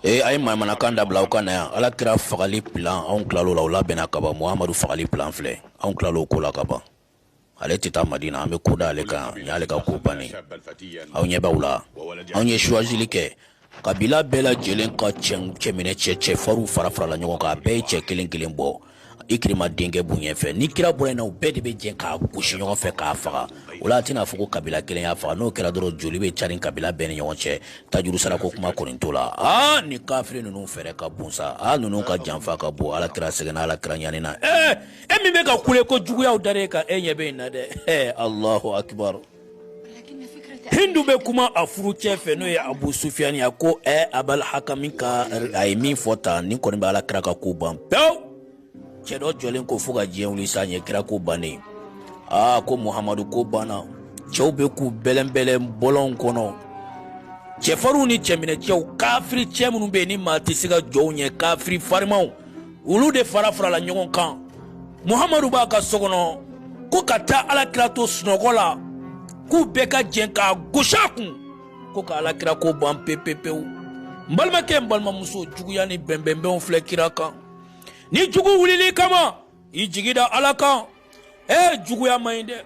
ee a ye manamanakan dabila aw ka na yan ala kira fagali pilan anw tilalo la o labɛnna ka ban muhamadu fagali pilan filɛ anw tilalo ko la ka ban ale tɛ taa madina an bɛ ko da ale kan nin y'ale ka ko bannen aw ɲɛ b'aw la anw ye suwazili kɛ kabila bɛɛ lajɛlen ka cɛminɛcɛ cɛfarinw farafarala ɲɔgɔn kan a bɛɛ ye cɛ kelen kelen bɔ ikirima denkɛ b'u ɲɛfɛ ni kira bɔra na u bɛɛ de bɛ jɛ k'a gosi ɲɔgɔn fɛ k'a faga o la a tɛna fɔ ko kabila kelen y'a faga n'o kɛra dɔrɔn joli bɛ carin kabila bɛɛ ni ɲɔgɔn cɛ tajuru sarako kuma kɔni t'o la aa ni kafiri ninnu fɛɛrɛ ka bon sa a ninnu ka janfa ka bon ala kira sɛgɛnna ala kira ɲanina ee e min bɛ ka kule ko juguyaw dar'e kan e ɲɛ bɛ nin na dɛ ee alahu akibaru hindu bɛ kuma a furucɛ fɛ n'o ye abu sufiyani ye a ko ɛ abal hakami ka a ye min fɔ tan nin kɔni bɛ ala kira ka ko ban pewu cɛ dɔ jɔlen ko fo ka diɲɛ wuli sa ɲɛ kira ko bannen aa ko muhamadu ko banna cɛw bɛ k'u bɛlɛnbɛlɛn bɔlɔnw kɔnɔ cɛfarinw ni cɛminɛcɛw kafiri cɛ minnu bɛ yen ni maa tɛ se ka jɔ u ɲɛ kafiri farimaw olu de farafarala ɲɔgɔn kan muhamadu b'a ka so kɔnɔ ko ka taa alakira to sunɔgɔ la k'u bɛɛ ka jɛn k'a gosi a kun ko ka alakira ko ban pepepewu n balimakɛ n balimamuso juguya ni bɛnbɛnbɛnw filɛ kira kan ni jugu wulil'i kama i jigi da ala kan ee juguya man ɲi dɛ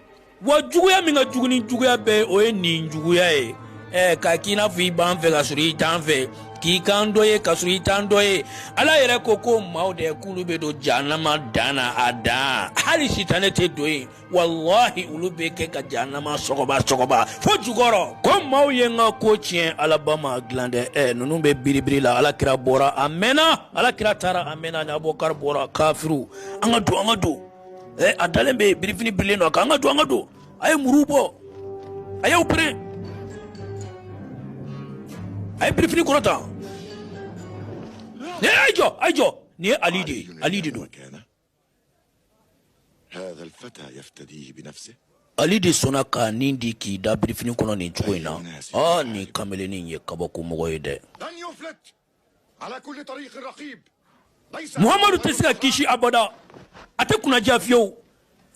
Wa juguya min ka jugu ni juguya bɛɛ o ye nin juguya ye ɛ k'a k'i n'a fɔ i b'an fɛ ka sɔrɔ i t'an fɛ k'i k'an dɔ ye ka sɔrɔ i t'an dɔ ye Ala yɛrɛ ko k'o maaw dɛ k'olu bɛ don jahanama dan na a dan hali sitanɛ tɛ don yen walahi olu bɛ kɛ ka jahanama sɔgɔba sɔgɔba fo jukɔrɔ k'o maaw ye n ka ko tiɲɛ a laban ma dilan dɛ ɛ ninnu bɛ biribiri la Ala kira bɔra a mɛnna Ala kira taara a mɛnna ni Abubakari bɔra kafiriw an ka don an ka don eh, a dalen bɛ birifini birilen don k'an ka don an ka don a ye muru bɔ a y'aw pere a ye birifini kɔrɔta ne a ye jɔ a ye jɔ nin ye ali de ye ali de don ali de sɔnna k'a ni di k'i da birifini kɔnɔ nin cogo in na aa nin kameleni ye kabakomɔgɔ ye dɛ muhamadu tɛ se ka kisi abada a tɛ kunnaja fiyewu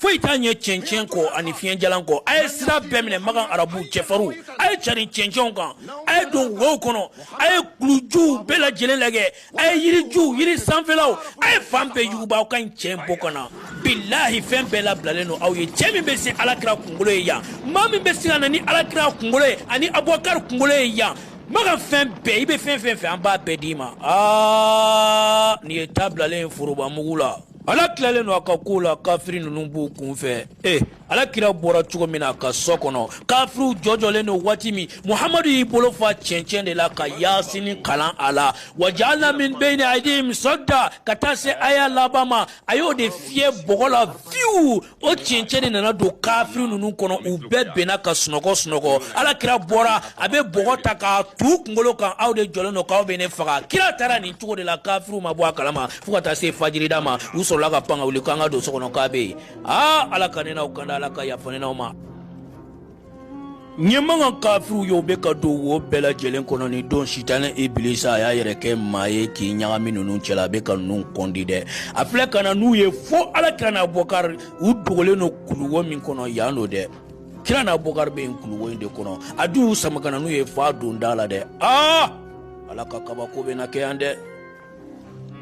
foyi t'a ɲɛ cɛncɛn kɔ ani fiɲɛjalan kɔ a ye sira bɛɛ minɛ makan arabu cɛfarinw a ye carin cɛncɛnw kan a ye don wow kɔnɔ a ye kulujuw bɛɛ lajɛlen lagɛ a ye yirijuw yiri sanfɛlaw a ye fan bɛɛ yuguba aw ka nin cɛ in bɔ ka na bilahi fɛn bɛɛ labilalen don aw ye cɛ min bɛ se alakira kunkolo ye yan maa min bɛ se ka na ni alakira kunkolo ye ani abubakari kunkolo ye yan Maka fɛn bɛɛ i bɛ fɛn fɛn fɛ an b'a bɛɛ d'i ma aa nin ye ta bilalen ye foroba mugu la ala tilalen don a ka ko la kafiri ninnu b'u kun fɛ ee ala kira bɔra cogo min na a ka so kɔnɔ kafiriw jɔjɔlen don waati min muhamadu y'i bolo fa cɛncɛn de la ka yasini kalan a la wa jaalna min bayni aydihim sadda ka taa se aya laban ma a y'o de fiyɛ bɔgɔ la fiyewu o cɛncɛn de nana don kafiri ninnu kɔnɔ u bɛɛ binna ka sunɔgɔ sunɔgɔ ala kira bɔra a bɛ bɔgɔ ta k'a t'u kunkolo kan aw de jɔlen don k'aw bɛ ne faga kira taara nin cogo de la kafiriw ma bɔ a kalama fo ka taa se fajirida ma u sɔrɔla ka pan ka wuli k'an ka don so kɔnɔ k'a bɛ yen aa ala ka ne n'aw kanda ala ka yafa ne n'aw ma ɲɛ maka kafiriw ye u bɛ ka don wo bɛɛ lajɛlen kɔnɔ nin don sitanɛ ibilisa a y'a yɛrɛ kɛ maa ye k'i ɲagami ninnu cɛla a bɛ ka ninnu kɔndi dɛ a filɛ ka na n'u ye fo ala kira n'abɔkari u dogolen don kuluwo min kɔnɔ yan don dɛ kira n'abɔkari bɛ yen kuluwo in de kɔnɔ a dun y'u sama ka na n'u ye f'a don da la dɛ aa ala ka kabako bɛ na kɛ yan dɛ